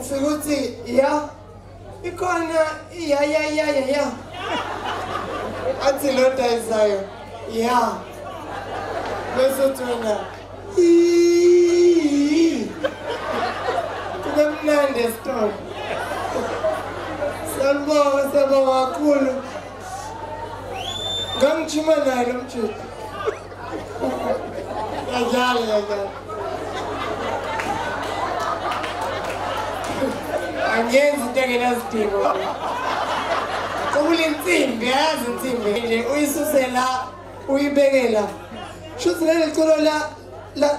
ufike uthi ya ikhona iyayayaya ya athi lo dayisayo ya bese uthi wena kube mnandi esitolo sanibonga sabonga kakhulu ngangijima naye lo mjita Kanjalo kanjalo. Angenzi into engenasidingo. Ukule nsimbi, yazi insimbi nje uyisusela uyibekela. Shuthi leli culo la la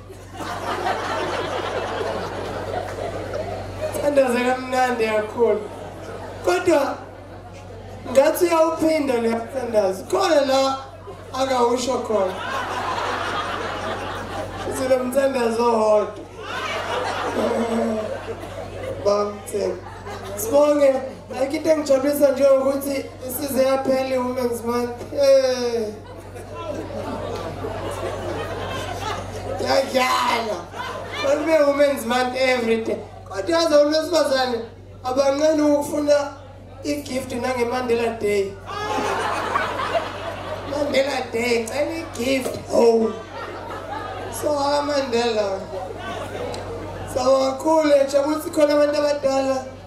Thandaza kamnandi kakhulu. Kodwa ngathi uyawuphinda le thandaza. Khona la akawusho khona. Silo mthandazo hodwa. Bamthemba. Sibonge ayikho into engijabulisa njengokuthi isize yaphela i-women's month. Eh. Yadlala. Ube women's month every day. Kodwa yazi owesifazane abanqeni ukufuna i-gift nangeMandela Day. Mandela Day, cela i-gift. Oh. So ha Mandela. Sawakhule, jabuthi khona abantu abadala.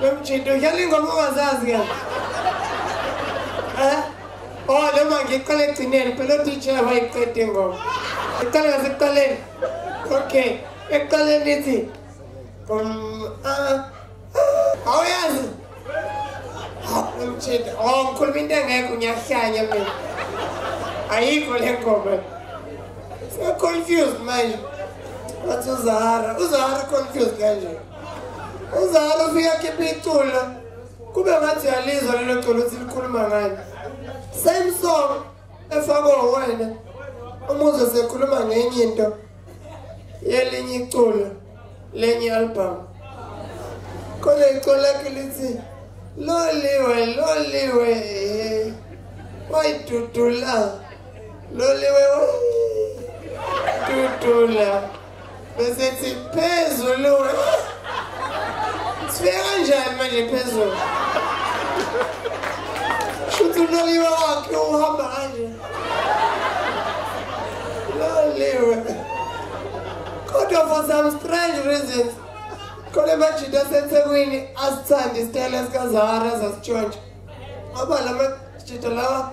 Lomjito udlala ingoma ongazazi ke. Eh? Oh, noma ngiqale ekugcineni phela uDJ wayiqede ingoma. Iqale ngasekuqaleni. Okay. Ekuqaleni ithi um ah awuyazi. Lomjito, oh ngikhuluma into engekho ngiyahlanya mina. Ayikho le ngoma. Siya confused manje. Wathi uZahara, uZahara confused kanje. uzalo ufika khipha iculo kube ngathi uyalizwa lelo culo ukuthi likhuluma ngani same song efakwe wena umuzwe sekhuluma ngenye into yelinye iculo lenye album khona iculo lakhe lithi loliwe loliwe wayidudula loliwe wayidudula besethi phezulu sifike kanjani manje phezulu shuthi uloliwe wakhe uhamba kanje loliwe kodwa for some strange reasons khona emajita asethekwini asithanda isitayela sikazahara zasitshontsha ngoba la majita lawa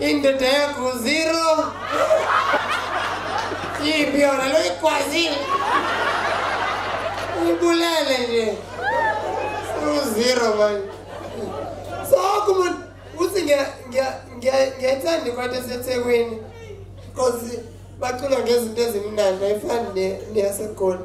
Indoda yakho zero. Ipi yona lo ikwazile. Ubulele nje. Uzero manje. So kuma uthi ngiya ngiya ngiyayithanda ikwathi esethekwini. Cause bacula ngezinto ezimnandi ayifani neyaseGoli.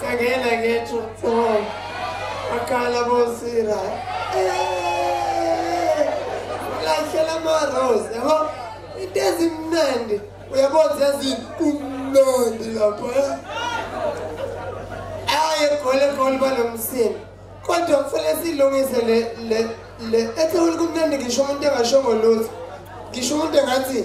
Sangena ngethu so akala bosira. Lahlela ma rose yabo into ezimnandi uyabona yazini kumnandi lapho eh? aye gole gole banomsini kodwa kufanele silungise le le le ethe ulikumnandi ngisho umuntu engashongo lutho ngisho umuntu engathi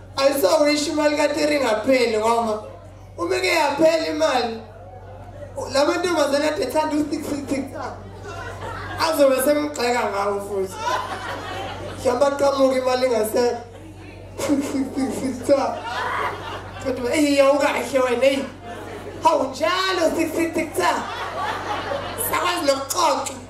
Ayisawurisha imali kateri ingapheli ngoba uma ke yaphela imali la mantombazane ade ethanda usiksiksiksa azobe semgxeka ngawo futhi mhlawumbe aqamuke imali ingasekho siksiksiksiksa kodwa eyi yawukahle wena eyi hawu njalo siksiksiksa sakwazi nokuxoxa